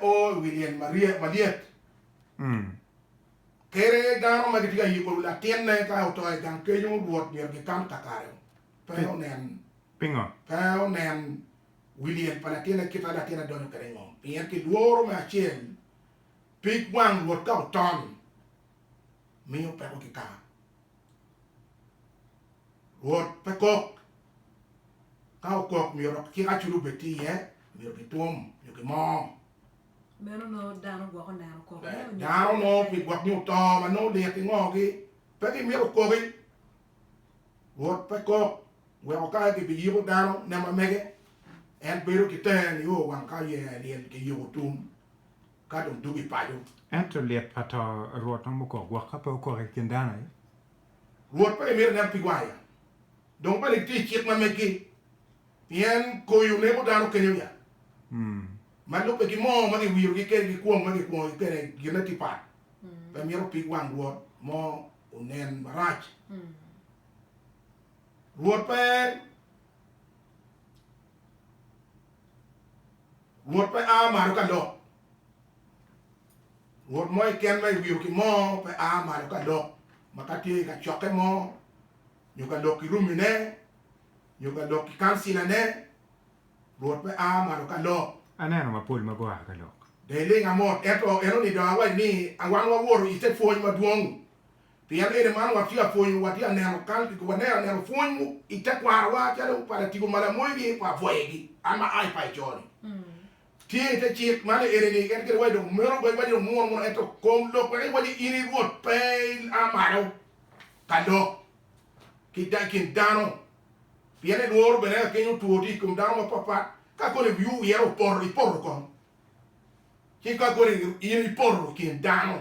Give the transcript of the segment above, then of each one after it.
O i wi lyel maryek, Kadi aye dano ma gitye ka yiko wi latinne ka oto i gang kenyo, Rwot myero gikan kakare pe onen. Pingo? Pe onen wi lyel pa latinne kit ma latinne donyo kwede i ngom, pien ki lworo me acel pig wang Rwot ka oton, miyo peko ki kaka. Rwot pe kok. Ka okok, myero cik aculo obed tye iye, myero kitwom nyo kimoo. Meno nongo dano gwok oneno koko meno nyo Dano kwo nongo pi gwok nyo to ma nongo lit i ngo gi, pe gi myero okoki. Rwot pe kok, weko ka aye gibi yiko dano ne ma mege, en bedo ki tenge nio wang ka yea lyel ki yiko tum. ka dong dwogo i paco. Ento lit pa to Rwot romo kok gwok ka pe okok i kin dano aye. Rwot pe mito ineno pigwa aya, dong bene gitye i cik ma meggi, pien koyo neko dano kenyo nya, ma lubbe ki moo ma giwirogi kede ki kwong ma gikwongogi kede gine tye pat. Pe mito pig wang Rwot mo onen marac. Rwot pe. Rwot pe a malo ka lok. Rwot mo keken ma iwiro ki moo pe a malo ka lok, ma ka tye i kacokke mo, nyo ka lok ki rumine, nyo ka lok ki kancilane, Rwot pe a malo ka lok. Aneno mapol ma gua ka lok. Dong iling amot. Ento en onido awaco ni, Wan wawoto i te pwony madwong. Pien eni man watye ka pwonyo, watye ka neno kal ki waneno anena pwony mu i tekwarowa calo pa Latigo ma lamoyo gi pa pwoyegi, an ma aa i paco coni. Tye i te cik man ni eni-ni, en kit waci dong meno pe waci dong muno muno, ento kom lok wek iwaci in i Rwot pe ia malo ka lok ki da, kin dano, pien i lworo bene ka keny otwo tye i kom dano ma pat pat, ka koni wiwu wire opoto, ipoto kong, ci ka koni in ipoto i kin dano.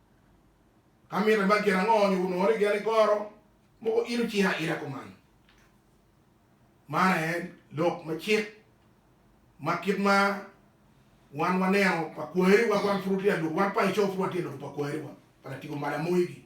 Ka mitte ma gin ango nyo wunongo ni gin igoro mogo in ociro aira kuman? Man aye lok me cik ma kit ma wan waneno pa kwariwa wan pud watye alur, wan pa Ecau pud watye alur pa kwariwa, pa Latigo Malamogi.